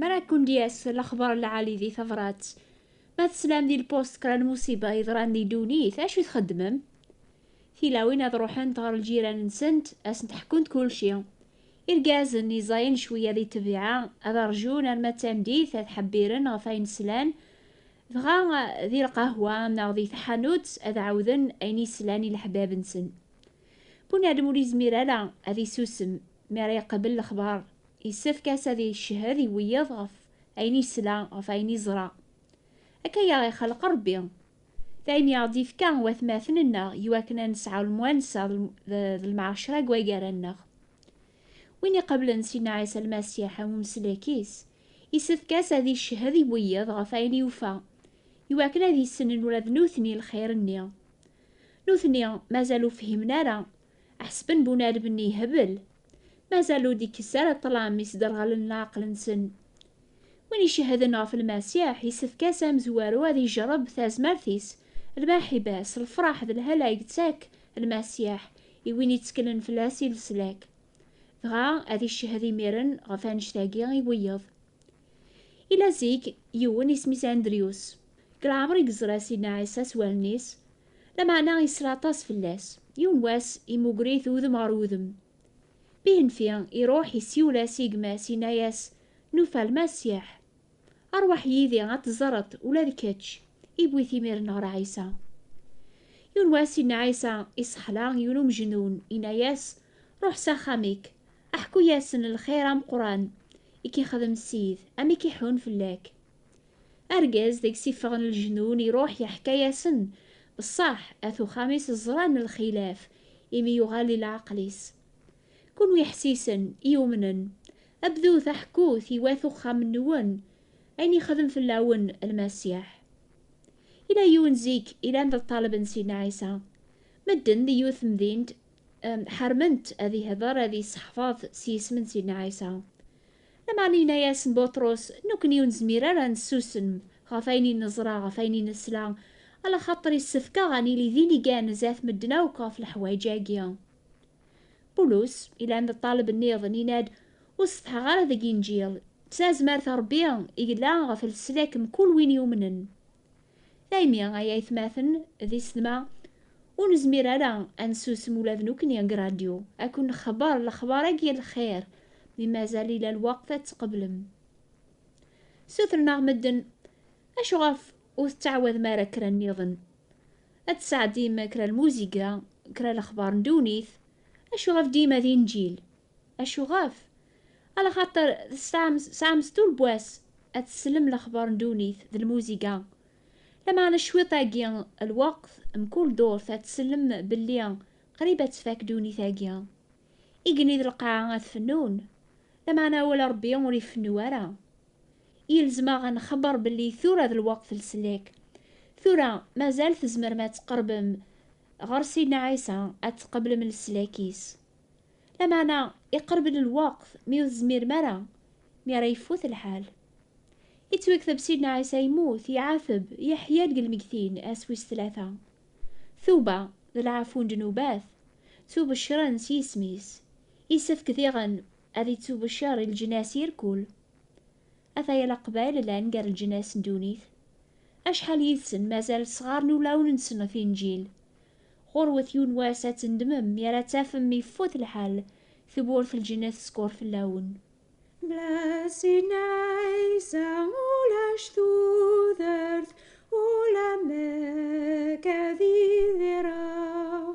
Mara Kundias, l'axbar lɛali di tabrat. Ma teslam di lpost kra n musiba yeḍran di ddunit, acu txeddmem? Tilawin ad ruḥent ɣer ljiran-nsent, ad sent-ḥkunt kulci. Irgazen iẓayen cwiya di ṭṭbiɛa, ad rjun arma d tameddit ad ḥebbiren ɣef ayen slan, Dɣa di lqahwa neɣ di tḥanut ad ɛawden ayen i slan i leḥbab-nsen. Bunadem ur yezmir ara ad isusem mi ara iqabel lexbar, yessefk-as ad iccehhed i wiyaḍ ɣef ayen yesla, ɣef ayen yeẓra. Akka i aɣ-ixleq Rebbi. Daymi i aɣ-d-ifka watmaten-nneɣ i wakken ad nesɛu lemwansa d lmɛecra deg wagar-nneɣ. Win iqablen Sidna Ɛisa Lmasiḥ am umeslek-is, Isefk-as ad iccehhed i wiyeḍ ɣef wayen yufa, i wakken ad issnen ula d nutni lxir-nni. Nutni mazal ur fhimen ara, ḥesben bunadem-nni yehbel, mazal ur d-ikkes ara ṭṭlam yesderɣalen leɛqel-nsen. Win icehhden ɣef Lmasiḥ, isefk-as amezwaru ad ijerreb tazmert-is, lmaḥiba-s, lfraḥ d lhala i yettak Lmasiḥ i win itteklen fell-as i leslak. Dɣa ad iccehhed imiren ɣef annect-agi i wiyeḍ. Ila zik, yiwen isem-is Andrius, deg leɛmer i yeẓra Sidna Ɛisa s wallen-is, lameɛna yesra aṭas fell-as. Yiwen wass, imugger-it udem ɣer udem. Bihenfi, iruḥ, isiwel-as i gma-s, yenna-as, Nufa Lmasiḥ! Rwaḥ yid-i ad teẓreḍ ula d kečč. Iwwi-t imiren ɣer Ɛisa. Yiwen wass inna Ɛisa i Ṣeḥla yiwen umejnun, inna-yas, Ruḥ s axxam-ik, aḥku-yasen lxir ameqqran i k-ixdem Ssid, amek i ḥun fell-ak. Argaz deg-s iffɣen lejnun iruḥ yeḥka-yasen, beṣṣaḥ at uxxam-is ẓran lxilaf imi yuɣal di leɛqel-is. Kunwi iḥessisen, iyumnen, a bdut aḥekkut i wat uxxam-nwen ayen yexdem fell-awen Lmasiḥ. Yella yiwen zik yellan d ṭṭaleb n Sidna Ɛisa. Medden di yiwet temdint ḥermen-t ad ihder, ad isseḥfaḍ s yisem n Sidna Ɛisa. Lameɛna yenna-yasen Buṭrus, Nekkni ur nezmir ara ad nessusem ɣef ayen i neẓra, ɣef ayen i nesla, alaxaṭer yessefk-aɣ ad nili d inigan zdat medden akk ɣef leḥwayeǧ-agi. Pulus, ilan d ṭṭaleb nniḍen, yenna-d, Ur setḥaɣ ara deg Inǧil. S tazmert n Rebbi, yella ɣef leslak mkul win yumnen. Daymi, ay aytmaten d isetma, ur nezmir ara ad nsusem ula d nekkni deg radyu, ad ken-nexber lexbar-agi n lxir, mi mazal ila lweqt ad t-tqeblem. Ssutren-aɣ medden, Acu ɣef ur tettɛawadem ara kra nniḍen? Ad tesɛeddim kra lmuziga, kra lexbar n ddunit. Acuɣef dima d inǧil? Acuɣef? Ala xaṭer tesɛam tesɛam stul n wass ad teslem lexbar n ddunit d lmuziga. Lameɛna cwiṭ-agi lweqt, mkul durt ad teslem belli qrib ad tfak ddunit-agi. Igenni d lqaɛa ad fennun. Lameɛna awal n Rebbi ur ifennu ara. Yelzem-aɣ ad nexber belli tura d lweqt n leslak. Tura mazal tzemrem ad tqerbem ɣer Sidna Ɛisa, ad tqeblem leslak-is. Lameɛna iqerb-d lweqt mi ur tezmirem ara, mi ara yeffut lḥal. Yettwekteb Sidna Ɛisa yemmut, iɛateb, yeḥya deg lmegtin, ass wis tlata. Tuba, d lɛafu n ddnubat, ttubecren s yisem-is. Yessefk diɣen Ad ittubecer i leǧnas irkul. Ata yal aqbayel llan gar leǧnas n ddunit. Acḥal yid-sen mazal ssɣaren ulawen-nsen ɣef Inǧil. Ɣurwet yiwen wass ad tendmem mi ara tafem ifut lḥal, tewwurt lǧennet teskeṛ fell-awen. Bless in Isa ulac tudert ula mek ad idireɣ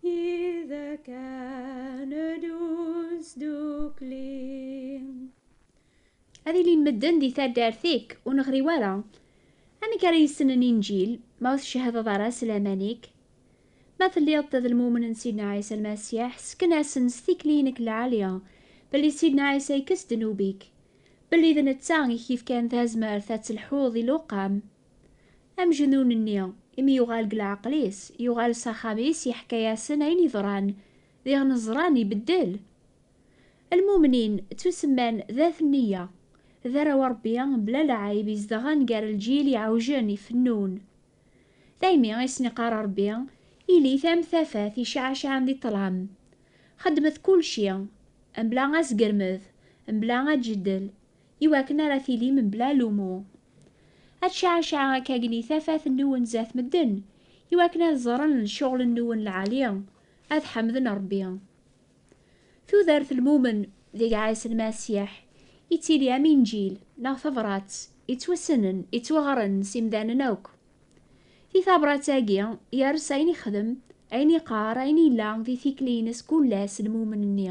Id ak aned usdukli. Ad ilin medden di taddart-ik, ur neɣri wara. Amek ara yessnen Inǧil, ma ur tcehhdeḍ ara s laman-ik? Ma telliḍ d lmumen n Sidna Ɛisa Lmasiḥ, ssken-asen s tikli-inek lɛali, belli Sidna Ɛisa ikes ddnub-ik, belli d netta i k-yefkan tazmert ad telḥuḍ di luqam, Amejnun-nni, imi yuɣal deg leɛqel-is, yuɣal s axxam-is, yeḥka-yasen ayen yeḍran, diɣen ẓran ibeddel. Lmumnin, ttusemman d At Nneyya, d arraw n Rebbi mebla lɛayeb izedɣen gar lǧil iɛewjen, ifennun. Daymi i sen-iqqar Rebbi, Ilit am tafat icɛacɛan di ṭṭlam. Xedmet kulci, mebla asgermed, mebla aǧeddel, I wakken ara tili mebla lumuṛ. Ad tcɛecɛeɣ akka gni tafat nniwen zdat medden, i wakken ad ẓren lecɣel nniwen lɛali, ad ḥemden Ṛebbi. Tudert lmumen deg Ɛisa Lmasiḥ ittili am inǧil neɣ tabrat ittwassnen, ittwaɣren s imdanen akk. Di tabrat-agi yers ayen ixdem, ayen iqqar, ayen yella di tikli-ines kull ass lmumen-nni.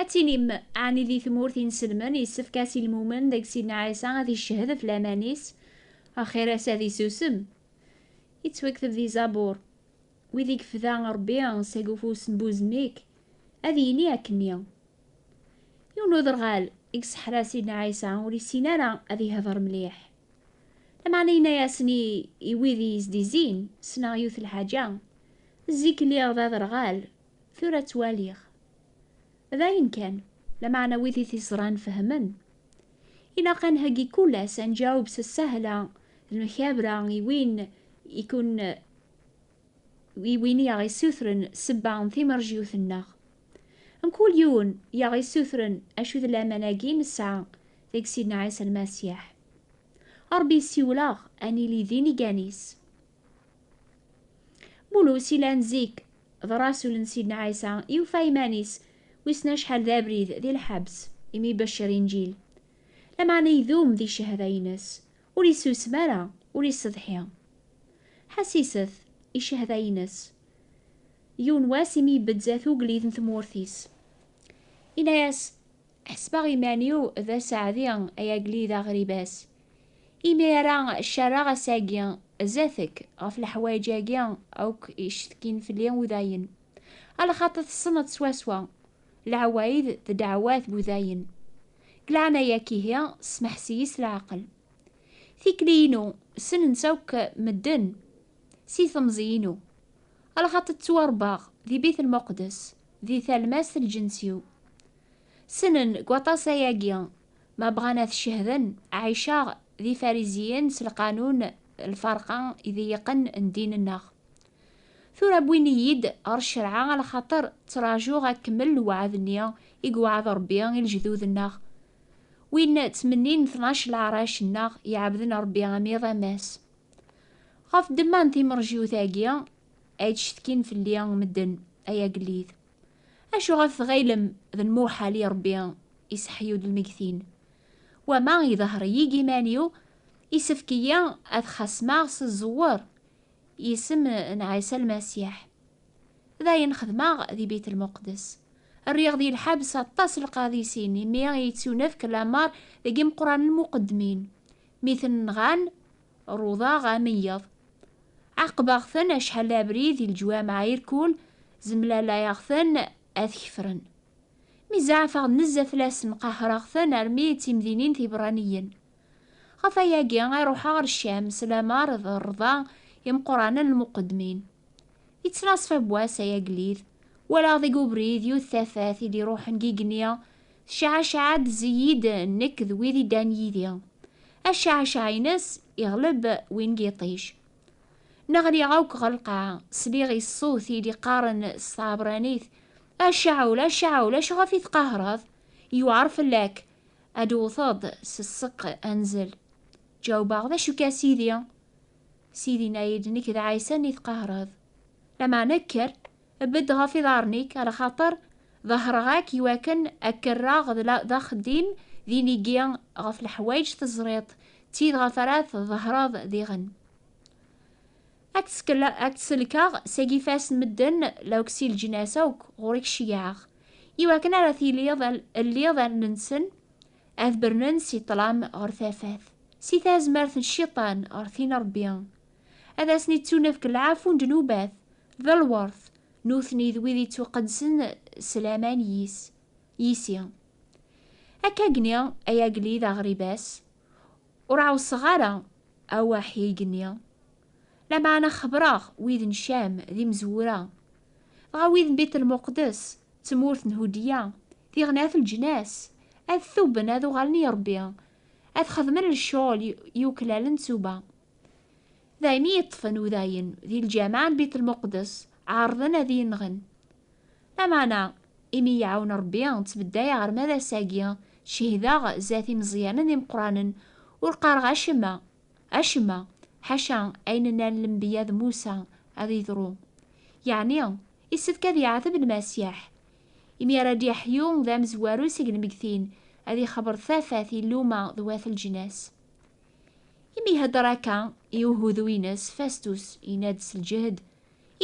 Ad tinim, ɛni di tmurt inselmen yessefk-as i lmumen deg Sidna Ɛisa ad iccehhed ɣef laman-is? Axir-as ad isusem. Yettwakteb di Zabur, Wid i yefda Ṛebbi seg ufus n buzemmik, ad yini akkenni. Yiwen uderɣal i yesseḥra Sidna Ɛisa ur yessin ara ad ihder mliḥ. Lameɛna yenna-yasen i wid i yesdizzin, Ssneɣ yiwet lḥaǧa, zik lliɣ d aderɣal, Tura ttwaliɣ. D ayen kan, lameɛna wid i t-iẓran fehmen. Ilaq a nheggi kull ass, a nǧaweb s ssahla d lmekabra i win i ken i win i aɣ-issutren ssebba n timerjiyut-nneɣ. Mkul yiwen i aɣ-issutren acu d laman-agi i nesɛa deg Sidna Ɛisa Lmasiḥ. Ṛebbi yessiwel-aɣ a nili d inigan-is. Bulus ilan zik D rasul n Sidna Ɛisa, yufa iman-is, wissen acḥal d abrid, di lḥebs, imi ibeccer Inǧil. Lameɛna idum di ccehda-ines, ur isusem ara, ur iseḍḥi. Ḥassiset i ccehda-ines. Yiwen wass imi ibedd zdat ugellid n tmurt-is, inna-yas, Ḥesbeɣ iman-iw d aseɛdi ay agellid aɣribas, imi ara ccarreɣ ass-agi zdat-k ɣef leḥwayeǧ-agi akk yecetkin fell-i udayen, a lxaṭi tessneḍ swaswa leɛwayed d ddeɛwat n udayen. Deg leɛnaya-k ihi smeḥs-iyi s leɛqel. Tikli-inu ssnen-tt akk medden si temẓi-inu, a lxaṭi ttwarebbaɣ di Bit Lmuqeddes di talmast n lǧens-iw. Ssnen deg waṭas ayagi, ma bɣan ad t-cehden, ɛiceɣ d Ifariziyen s lqanun, lferqa, ideyyqen n ddin-nneɣ. Tura wwin-iyi-d ɣer ccerɛa a lxaṭer ttrajuɣ ad kemmel lweɛd-nni i yewɛed Rebbi i lejdud-nneɣ, win ttmennin tnac leɛrac nneɣ iɛebden Rebbi am iḍ am ass. Ɣef ddemma n timerjiwt-agi ay d-cetkin fell-i medden, ay agellid. Acu ɣef tɣilem d lmuḥal i Ṛebbi iseḥyu-d lmegtin? Wama idehher-iyi-g iman-iw, isefk-iyi ad xasmeɣ s ẓẓewwer i isem n Ɛisa Lmasiḥ. D ayen xedmeɣ di Bit Lmuqdes. Rriɣ di lḥebs aṭas n lqadisin imi i yettunefk lameṛ deg imeqranen muqeddmin, mi ten-nɣan Ruḍeɣ ameyyeḍ. Ɛaqbeɣ-ten acḥal abrid i leǧwameɛ irkul, zemlalayeɣ-ten ad kefren. Mi zeɛfeɣ nezzeh fell-asen qehreɣ-ten armi d timdinin tiberraniyen. Ɣef wayagi i ruḥeɣ ɣer Ccam s lamer d rrḍa imeqqranen n lmuqeddmin. Yettnaṣfa n wass ay agellid, walaɣ deg ubrid yiwet tafat i d-iruḥen deg igenni Tecɛecɛa-d Ziyid nekk d wid iddan yid-i. Acɛecɛ-ines iɣleb win n yiṭij. Neɣli akk ɣer lqaɛa, sliɣ i ṣṣut i d-iqqaren s tɛebranit, A Caɛul, a Caɛul, acuɣef i tqahreḍ? Yewɛer fell-ak ad d-tewteḍ s ṣṣeq anzel. Ǧawbeɣ, D acu-k a Sidi? Sidi yenna-yi-d, Nekk d Ɛisa-nni tqahreḍ. Lameɛna kker, Bedd ɣef iḍarren-ik, ar xaṭer ḍehreɣ-ak i wakken ad k-rreɣ d axeddim d inigi ɣef leḥwayeǧ teẓriḍ, d tid ɣef ara tḍehreḍ diɣen. Ad k-selkeɣ seg ifas n medden lawk si leǧnas akk ɣur-k ceyyɛeɣ, i wakken ara tiliḍ lliḍ allen-nsen ad bernen si ṭṭlam ɣer tafat, si tazmert n cciṭan ɣer tin n Ṛebbi. ad asen-ittunefk lɛafu n ddnubat d lwert, nutni d wid ittuqedsen s laman yis, yis-i. Akkagni, ay agellid aɣribas, ur ɛusseɣ ara awaḥhig-nni, lameɛna xebreɣ wid n Cam d imezwura, dɣa wid n Bitelmuqdes, tmurt n Hudya, tiɣnat leǧnas, ad tuben ad uɣalen i Rebbi, ad xedmen lecɣel yuklalen d tuba. D ayen i yeṭṭfen udayen di lǧameɛ n Bit Lmuqdes, ɛerḍen ad iyi-nɣen. Lameɛna, imi i yi-iɛawen Rebbi, ttbeddayeɣ arma d ass-agi, cehdeɣ zdat imeẓyanen d imeqqranen, ur qqareɣ acemma, acemma, ḥaca ayen nnan lenbiya d Musa ad yeḍru, yeɛni, yessefk ad yeɛteb Lmasiḥ, imi ara d-yeḥyu d amezwaru seg lmeggtin, ad ixebber tafat i lluma d wat leǧnas. Imi ihedder akka i uhudu-ines, Fastus yenna-d s lǧehd,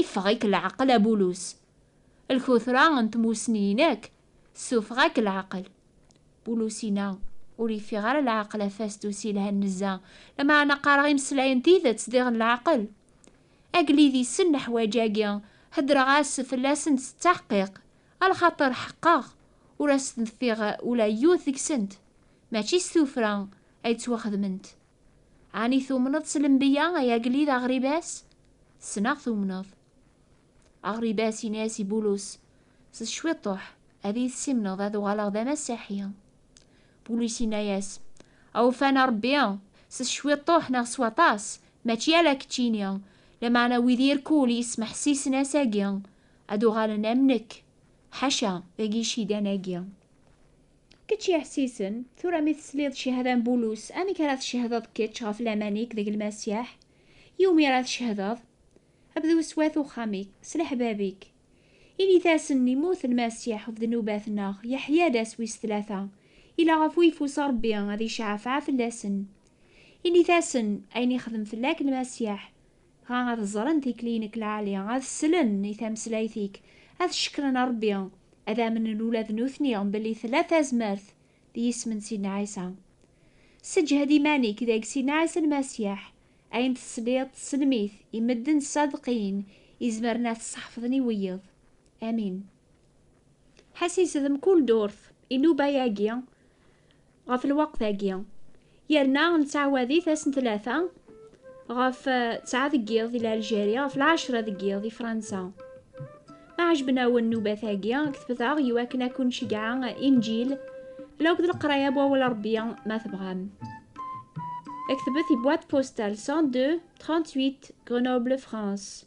Iffeɣ-ik leɛqel a Bulus! Lkutra n tmussni-inek tessufeɣ-ak leɛqel! Bulus yenna, Ur yeffiɣ ara leɛqel a Fastus yelhan nezzeh, lameɛna qqareɣ imeslayen n tidet sdiɣen leɛqel. Agellid yessen leḥwaǧ-agi, heddreɣ-as fell-asent s ttaḥqiq, a lxaṭer ḥeqqeɣ ur asen-ffiɣ ula yiwet deg-sent. Mačči s tuffra ay ttwaxedment. Ɛni tumneḍ s lembiya ay agellid aɣribas? Ssneɣ tumneḍ. Aɣribas yenna-as i Bulus, S cwiṭṭuḥ, ad iyi-tessimneḍ ad uɣaleɣ d amasiḥi. Bulus yenna-as, Awufan a Rebbi, s cwiṭṭuḥ neɣ s waṭas, mačči ala keččini, lameɛna wid irkul yesmeḥsisen ass-agi, ad uɣalen am nekk. Ḥaca, dagi icidan-agi. Kečč yeɛessisen, tura mi tesliḍ cihada n Bulus, amek ara tcehdeḍ kečč ɣef laman-ik deg Lmasiḥ? Iwumi ara tcehdeḍ? Bdu s wat uxxam-ik, s leḥbab-ik. Init-asen, Immut Lmasiḥ ɣef ddnubat-nneɣ, yeḥya-d ass wis tlata, ila ɣef uyeffus Ṛebbi ad iceɛfeɛ fell-asen. Init-asen, Ayen ixdem fell-ak Lmasiḥ, Dɣa ad ẓren tikli nek lɛali, ad slen i tameslayt-ik, ad cekkren Rebbi, ad amnen ula d nutni belli tella tazmert d yisem n Sidna Ɛisa. Sseǧhed iman-ik deg Sidna Ɛisa Lmasiḥ, ayen tesliḍ tesselm-it i medden ṣṣadeqin izemren ad t-sḥefḍen i wiyeḍ. Amin. Ḥasis d mkul durt, inuba yagi. ɣef lweqt-agi, yerna nettɛawad-it ass n tlata ɣef tesɛa deg yiḍ di Lalǧeri, ɣef lɛecra deg yiḍ di Fransa. Ma ɛejben-awen nnubat-agi, ketbet-aɣ i wakken ad ken-ceggɛeɣ Inǧil la akked leqraya n Wawal Rebbi ma tebɣam. Ketbet i boîte postale 102 38 Grenoble, France.